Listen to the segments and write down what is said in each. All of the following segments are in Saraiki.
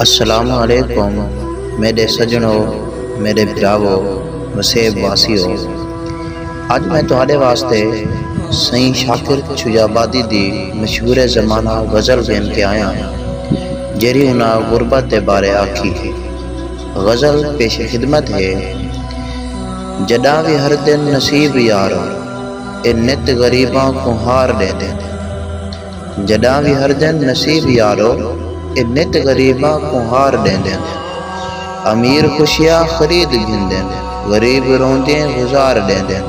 السلام علیکم میݙے سڄݨو، میݙے بھراوو، وسیب واسیو! اڄ میں تہاݙے واسطے سئیں شاکر چھجابادی دی مشہور زمانہ غزل گھن کے آیاں جیڑھی انہاں غربت دے بارے آکھی ہئی۔ غزل پیش خدمت ہے۔ جݙاں وی ہر دن نصیب یارو اے نت غریباں کوں ہار ݙیندے۔ جݙاں وی ہردن نصیب یارو اے نت غریباں کوں ہار ݙیندن امیر خوشیاں خرید گھندن غریب روندیں گزار ݙیندن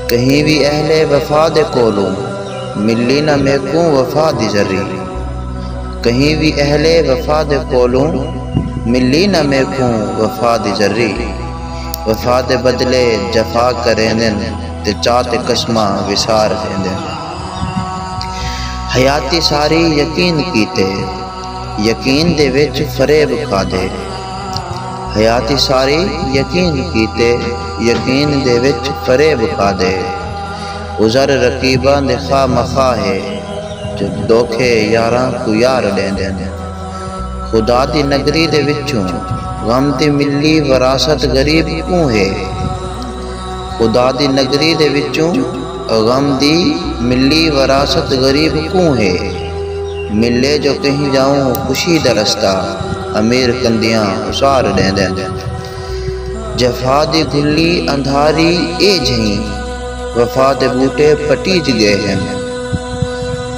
کہیں وی اہل وفا دے کولوں ملی نہ میکوں وفا دی ذری کہیں وی اہل وفا دے کولوں ملی نہ میکوں وفا دی ذری وفا دے بدلے جفا کریندن تے چا تے قسماں وسار ݙیندن۔ حیاتی ساری یقین کیتے یقین دے وچ فریب کھادے حیاتی ساری یقین کیتے یقین دے وچ فریب کھادے عذر رقیباں دے خواہ مخواہ ہے جو دھوکے یاراں کوں یار ݙیندن خدا دی نگری دے وچوں غم دی ملی وراثت غریب کوں ہے خدا دی نگری دے وچوں غم دی ملی وراثت غریب کوں ہے ملے جو کہیں جاؤں خوشی دا رستہ امیر کندیاں اسار ڈیندن جفا دی گھلی اندھاری اے جھئیں وفا دے بوٹے پٹیج گئے ہن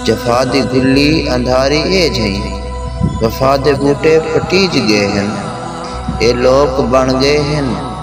جفا دی گھلی اندھاری اے جھئیں وفا دے بوٹے پٹیج گئے ہن اے لوک بن گئے ہن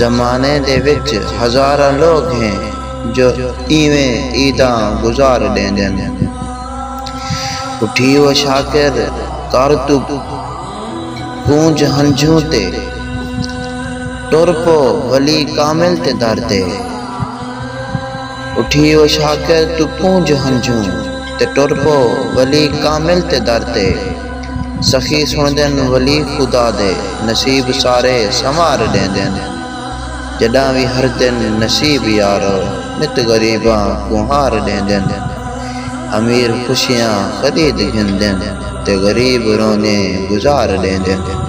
زمانے دے وچ ہزاراں لوک ہیں جو اینویں عیداں گزار ݙیندن۔ اٹھی او شاکر گھر توں پونجھ ہنجھوں تے ٹر پو ولی کامل دے در تے۔ اٹھی او شاکر توں پونجھ ہنجھوں تے ٹر پو ولی کامل دے در تے۔ سخی سݨدن ولی خدا دے نصیب سارے سنوار ݙیندن جݙاں وی ہردن نصیب یارو نت غریباں کوں ہار ݙیندن امیر خوشیاں خرید گھندن تے غریب رونے گزار ݙیندن۔